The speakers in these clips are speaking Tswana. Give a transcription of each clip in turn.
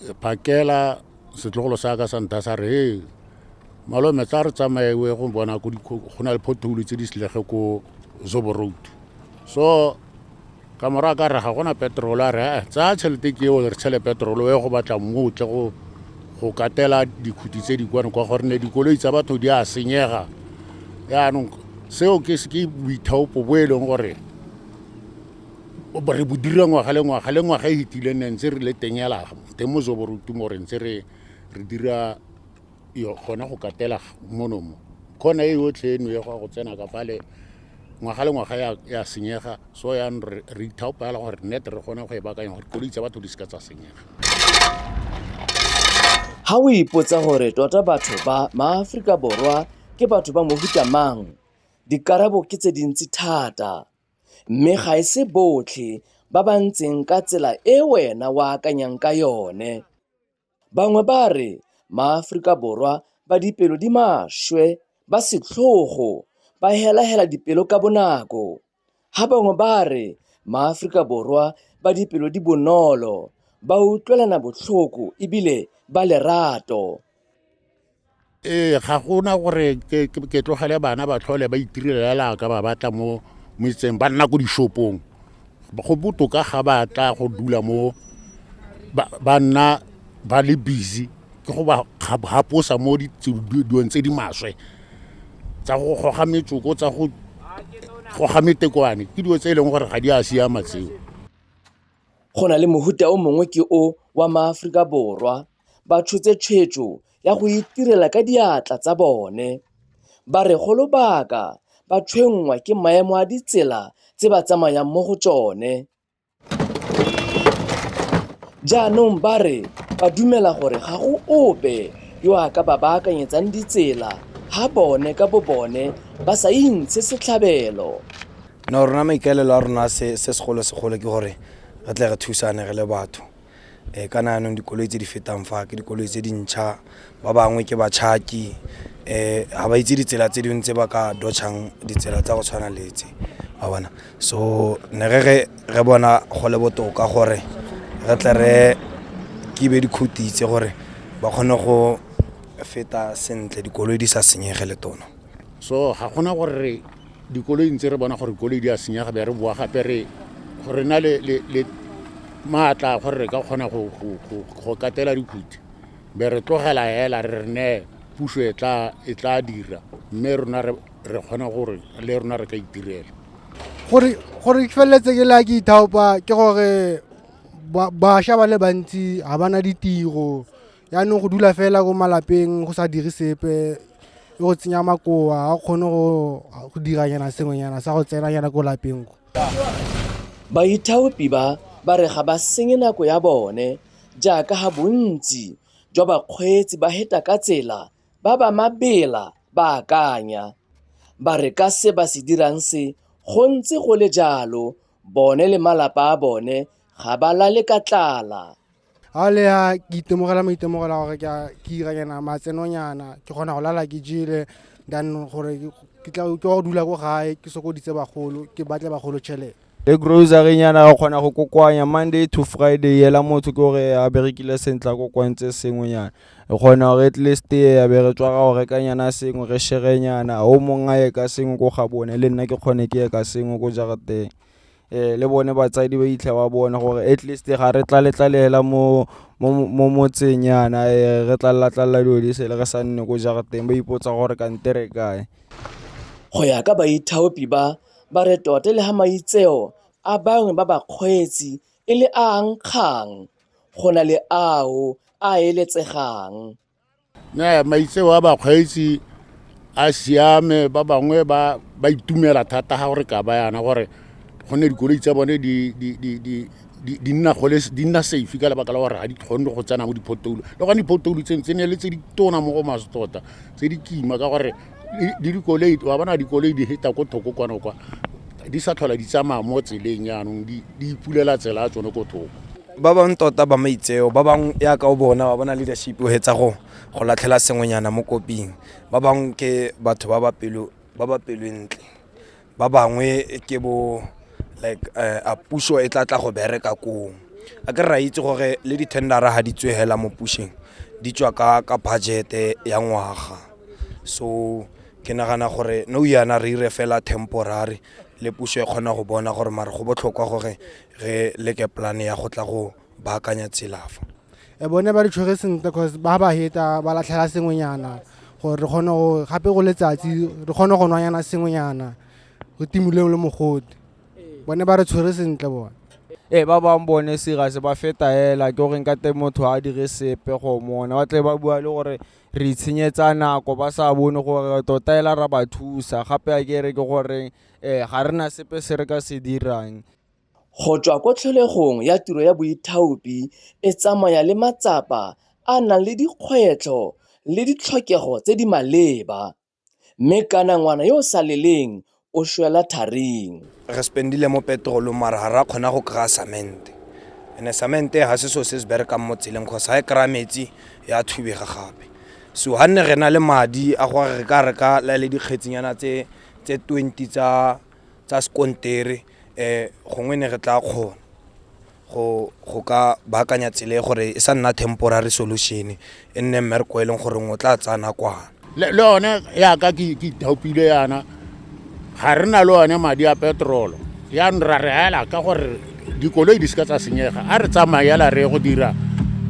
Phakela setlogolo sa ka sa nta sa re he malome tla re tsamaewe go bona go na le pothole tse di selege ko zobo road so ka morago ka re ga gona petrolo a re eh, tsaya tšhelete ke eo re tshele petrolo e go batla mmu o tle go go katela dikhuti tse di kwane kwa gore ne dikoloi tsa batho di a senyega yaanong seo ke boithaopo bo e leng gore re bo dira ngwaga le ngwaga le ngwaga e fetileng ne ntse re le teng ela teng mo zoborutumo re ntse re re dira gona go katela mono mo khona e yotlhe eno ya go tsena ka fale ngwaga le ngwaga ya senyega so yang re ithaopa fela gore net re kgone go e bakanya gore koloi tsa batho di seka tsa senyega ga o ipotsa gore tota batho ba maaforika borwa ke batho ba mohuta mang dikarabo ke tse dintsi thata Mme ga e se botlhe ba ba ntseng ka tsela e wena o akanyang ka yone. Bangwe ba re maAforika Borwa ba dipelo di maswe, ba setlhogo, ba helahela dipelo ka bonako. Ha bangwe ba re maAforika Borwa ba dipelo di bonolo, ba utlwelana botlhoko e bile ba lerato. ee ga gona gore ke ke- ke tlogele bana ba tlhole ba itirelela ka ba batla mo mo itseng ba nna ko dishopong go botoka ga ba tla go dula mo ba- ba nna ba le busy ke go ba ga- gaposa mo di- tse- di- dilong tse di maswe tsa go goga metsoko tsa go goga metekwane ke dilo tse e leng gore ga di a siama tseo go na le mohuta o mongwe ke o wa maaforika borwa ba tshotse tshwetso ya go itirela ka diatla tsa bone. Ba re go lobaka ba tshwenngwa ke maemo a ditsela tse ba tsamayang mo go tsone. Jaanong ba re ba dumela gore ga go ope yo a ka ba baakanyetsang ditsela ha bone ka bo bone ba sa intshe setlhabelo. No rona maikaelelo a rona se segolo-segolo ke gore re tle re thusane re le batho. um kana yanong dikoloi tse di fetang fa ke dikoloi tse dintšha ba bangwe ke batšhaki um ga ba itse ditsela tse dingwe tse ba ka dotšhang ditsela tsa go tshwana le tse a bona so ne re re re bona go le botoka gore re tle re kibe dikhuti tse gore ba kgone go feta sentle dikoloi di sa senyege le tono so ga gona gore dikoloi ntse re bona gore dikoloi di a senyega be re boa gape re gore na le maatla gore re ka kgona go katela dikhuti be re tlogela hela re ne puso e tla e tla dira mme rona re re kgona gore le rona re ka itirela gore gore ke feleletse ke la ke ithaopa ke gore bašwa ba le bantsi ga bana ditiro yaanong go dula fela ko malapeng go sa dire sepe e go tsenya makoa a kgone go diranyana sengwenyana sa go tsenanyana ko lapeng ko baithaopi ba ba re ga ba senye nako ya bone jaaka ga bontsi jwa bakgweetsi ba heta ka tsela ba ba mabela ba akanya ba re ka se ba se dirang se go ntse go le jalo bone le malapa a bone ga ba lale ka tlala ga le ya ke itemogela maitemogela gore ke a- ke iranyana matsenonyana ke kgona go lala ke jele than gore ke- ke tla ke wa go dula ko gae ke sokoditse bagolo ke batle bagolo tšhelete le grocery nyana re kgona go kokoanya monday to friday yela motho ke gore a berekile sentle a kokoantse sengwe nyana re kgona gore at least ya be re tswa ra go reka nyana sengwe re shere nyana o mongwe a ye ka sengwe ko ga bone le nna ke kgone ke ye ka sengwe ko jarateng eh le bone batsadi ba itlha ba bone gore at least ga re tlaletlalela mo mo motseng yana eh, re tlallatlalla dilo di sele re sa nne ko jarateng ba ipotsa gore kante re kae go ya ka baithaopi ba ba re tote le ga maitseo a bangwe ba bakgweetsi e le a nkgang go na le ao a eletsegang maitseo a bakgweetsi a siame ba bangwe ba ba itumela thata ga gore ka ba yana gore go ne dikoloi tsa bone di di di di di- di nna gole di nna safe ka lebaka la gore ga di kgone go tsena mo diphotoulu le gone diphotoulu tseng tse ne le tse di tona mo go maso tota tse di kima ka gore di- di dikoloi wa bona dikoloi di heta ko thoko kwana kwa di sa tlhola di tsamaya mo tseleng yaanong di di ipulela tsela ya tsone ko thoko ba bangwe tota ba maitseo ba bangwe yaka o bona ba bona leadership o hetsa go go latlhela sengwenyana mo koping ba bangwe ke batho ba ba pelo ba ba pelo e ntle ba bangwe ke bo like uh, a puso e tla tla go bereka kong a ke re ra itse gore le di-tendera ga di tswe hela mo pusheng di tswa ka ka budgete ya ngwaga so ke nagana gore no yana re ire fela temporary le puso e kgona go bona gore mare go botlhokwa gore re leke polane ya go tla go baakanya tselafa e bone ba re tshwere sentle cause ba ba heta ba latlhela sengwenyana gore re kgone go gape go letsatsi re kgone go nwanyana sengwenyana re timoleng le mogodi bone ba re tshwere sentle bone ee ba bangwe bone serious ba feta hela ke gore nka te motho a dire sepe go mona ba tle ba bua le gore re itshenyetsa nako ba sa bone gore tota ela ra ba thusa gape a ke re ke goreng um ga re na sepe se re ka se dirang Go tswa ko tlholegong ya tiro ya boithaopi e tsamaya le matsapa a a nang le dikgwetlho le ditlhokego tse di maleba, mme kana ngwana yo o sa leleng o shwela tharing. Re spendile mo petrolong mara ga ra kgona go kry-a cement and-e cement ga se so se se berekang mo tseleng cause ga e kry-a metsi ya thubega gape. So ga nne re na le madi a gore re ka reka le dikgetsinyana tse twenty tsa tsa sekontere um gongwe ne re tla kgona go go ka baakanya tsele gore e sa nna temporary solution e nne mmereko e leng gore o tla tsaya nakwana le yone yaka ke ithaopile yana ga re na le one madi a petrolo yanong ra re hela ka gore dikoloi di seka tsa senyega a re tsamaela re go dira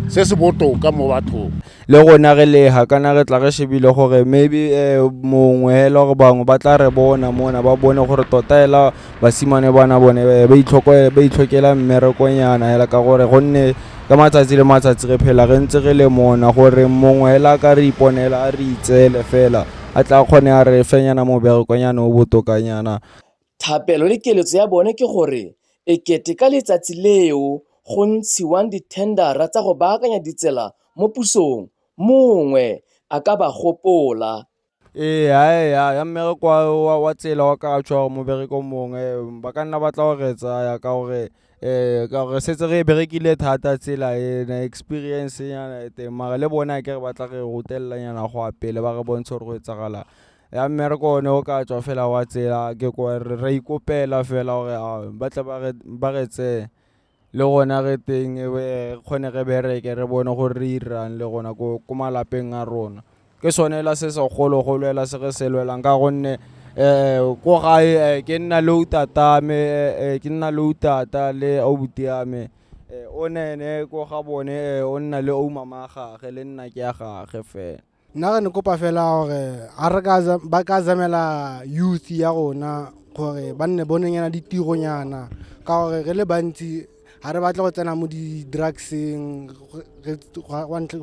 se se botoka mo bathong le rona re leha kana re tla re shebile gore maybe um mongwe hela gore bangwe ba tla re bona mona ba bone gore tota hela basimane bana bone eh, ba itlhoko- ba itlhokela mmerekonyana hela ka gore gonne ka matsatsi le matsatsi re phela re ntse re le mona gore mongwe hela a ka re iponela a re itseele fela a tla kgone a re fenyana moberekonyana o botokanyana Thapelo le keletso ya bone ke gore e kete ka letsatsi leo go ntshiwang dithendara tsa go baakanya ditsela mo pusong, mongwe a ka ba gopola. Ee, ya, ya, ya mmereko wa, wa, wa tsela wa ka tshwara mobereko mongwe ba ka nna batla go re tsaya ka gore um ka gore setse re e berekile thata tsela ena experience nyana e teng mara le bone a ke re batla re rutelelanyana go ya pele ba re bontshe gore go etsagalang. ya mmereko o ne o ka tswa fela wa tsela ke ko ra ikopela fela gore a ba tle ba re tseye le gona re teng re kgone re bereke re bone gore re irang le gona ko malapeng a rona ke sone la se segologolo ela se re se lwelang ka gonne um ko gae ke nna le utata me ke nna le utata le aubuti ya me o nene ko ga bone o nna le oumama ya gage le nna ke ya gage fela nna re ne kopa fela gore a re ka ba ka zamela youth ya rona gore ba nne bonengena ditironyana ka gore re le bantsi ga re batle go tsena mo di-drugseng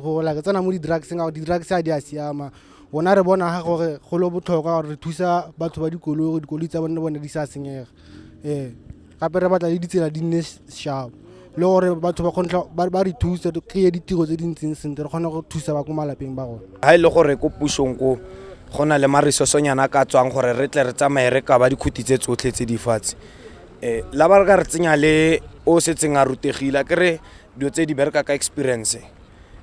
go like tsena mo di-drugseng ka gore di-drugs a di a siama rona re bona ga gore go le botlhokwa gore re thusa batho ba dikoloi gore dikoloi tsa bone le bone di sa senyega ee gape re batla le ditsela di nne sharp le gore batho ba kgontlha ba re thusa re kry ditiro tse di ntseng sentle re kgone go thusa ba ko malapeng ba rona ga e le gore ko pusong ko go na le maresosonyana ka tswang gore re tle re tsamaye re kaba dikhuti tse tsotlhe tse di fatshe um la ba re ka re tsenya le o setseng a rutegile ke re dilo tse di bereka ka experience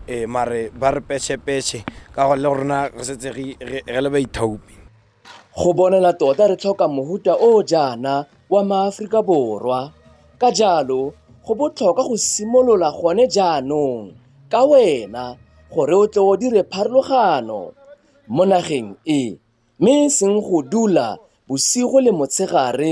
um mare ba re peshepeshe ka go le rona re setse re le baithaopi Go bonala tota re tlhoka mohuta o o jaana wa maAforika Borwa. Ka jalo, go botlhokwa go simolola gone jaanong ka wena gore o tle o dire pharologano mo nageng e mme e seng go dula bosigo le motshegare